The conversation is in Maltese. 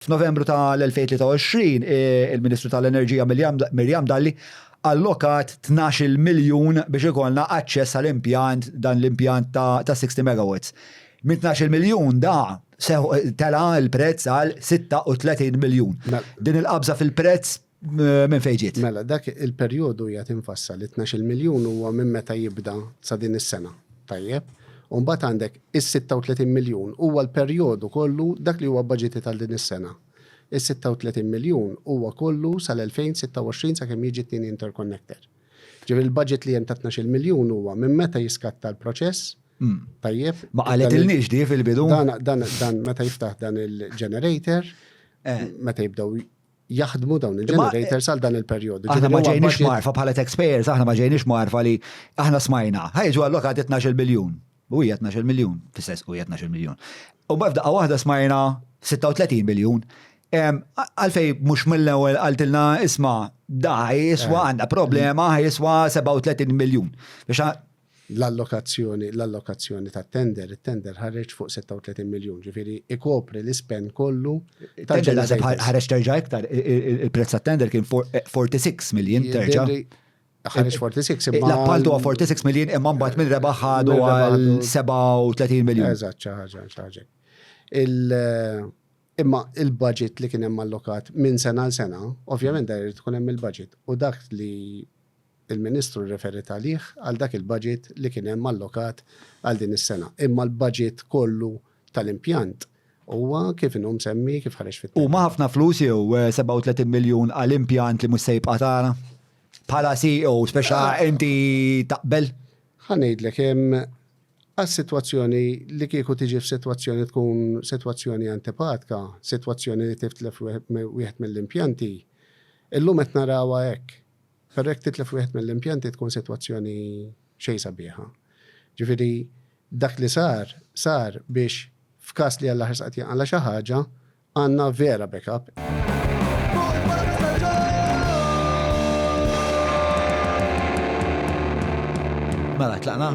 F'Novembru ta' l-2023, il-Ministru ta' l-Enerġija Miriam Dalli allokat tnax-il miljun biex ikollna aċċess għal impjant, dan l-impjant ta' 60 megawatts. Minn tnax-il miljun da tela' l-prezz għal 36 miljun. Din il-qabża fil-prezz Minn fejn ġiet? Mela, dak il-perjodu hija tinfassa li 12 miljun huwa minn meta jibda sa din is-sena. Tajjeb? U mbagħad għandek is-36 miljun huwa l-perjodu kollu dak li huwa bbaġitit għal din is-sena. Is-36 miljun huwa kollu sal-2026 sakemm jiġi t-tieni interconnector. Ġifieri l-baġit li hemm ta' 12 miljun huwa minn meta jiskatta l-proċess. Tajjeb? Ma qalitilniex di fil-bidu. Dan meta jiftaħ dan il-generator, meta jibdew jaħdmu dawn il-generators għal dan il-perjodu. Aħna ma ġejniex marfa bħala taxpayers, aħna ma ġejniex marfa li aħna smajna. Ħajġu allokat 12 biljun. U hija 12 miljun, fis-sens u hija 12 miljun. U b'fda waħda smajna 36 biljun. Għalfej mhux mill-ewwel qaltilna isma' da jiswa eh. għandha problema jiswa 37 miljun. Biex L-allokazzjoni, l-allokazzjoni tat-tender, it-tender ħareġ fuq 36 miljun, ġifieri ikopri l-ispend kollu ta' Tender naħseb ħa- Generators. ħareġ terġa' iktar, i- i- i- il-prezz tat-tender kien for- 46 miljin terġa'. Jidhirli Ħareġ 46 imma. L-appaltu huwa 46 miljin imma mbagħad minn rebaħ ħadu Minn rebaħ għal ħadu- 37 miljun. Eżatt, xi ħaġa, xi ħaġa. Il- Imma il-budget li kien hemm allokat minn sena għal sena, ovvjament da jrid ikun hemm il-budget. U dak li il-Ministru rreferiet għalih għal dak il-baġit li kien hemm allokat għal din is-sena. Imma l-baġit kollu tal-impjant huwa kif inhu msemmi, kif ħareġ fit-tnejn. Huma ħafna flus jew 37 miljun għal impjant li mhux se jibqa' tara? Bħala CEO speċa inti taqbel? Ħa ngħidlek hemm għas-sitwazzjoni li kieku tiġi f'sitwazzjoni tkun sitwazzjoni antipatka, sitwazzjoni li tiftlef wieħed mill-impjanti, illum qed narawha hekk. Però jekk titlef wieħed mill-impjanti tkun sitwazzjoni xejn sabiħa. Ġifieri dak li sar, sar biex f'każ li Alla ħarsqat jinqala' xi ħaġa, għandna vera backup. Mela tlaqna?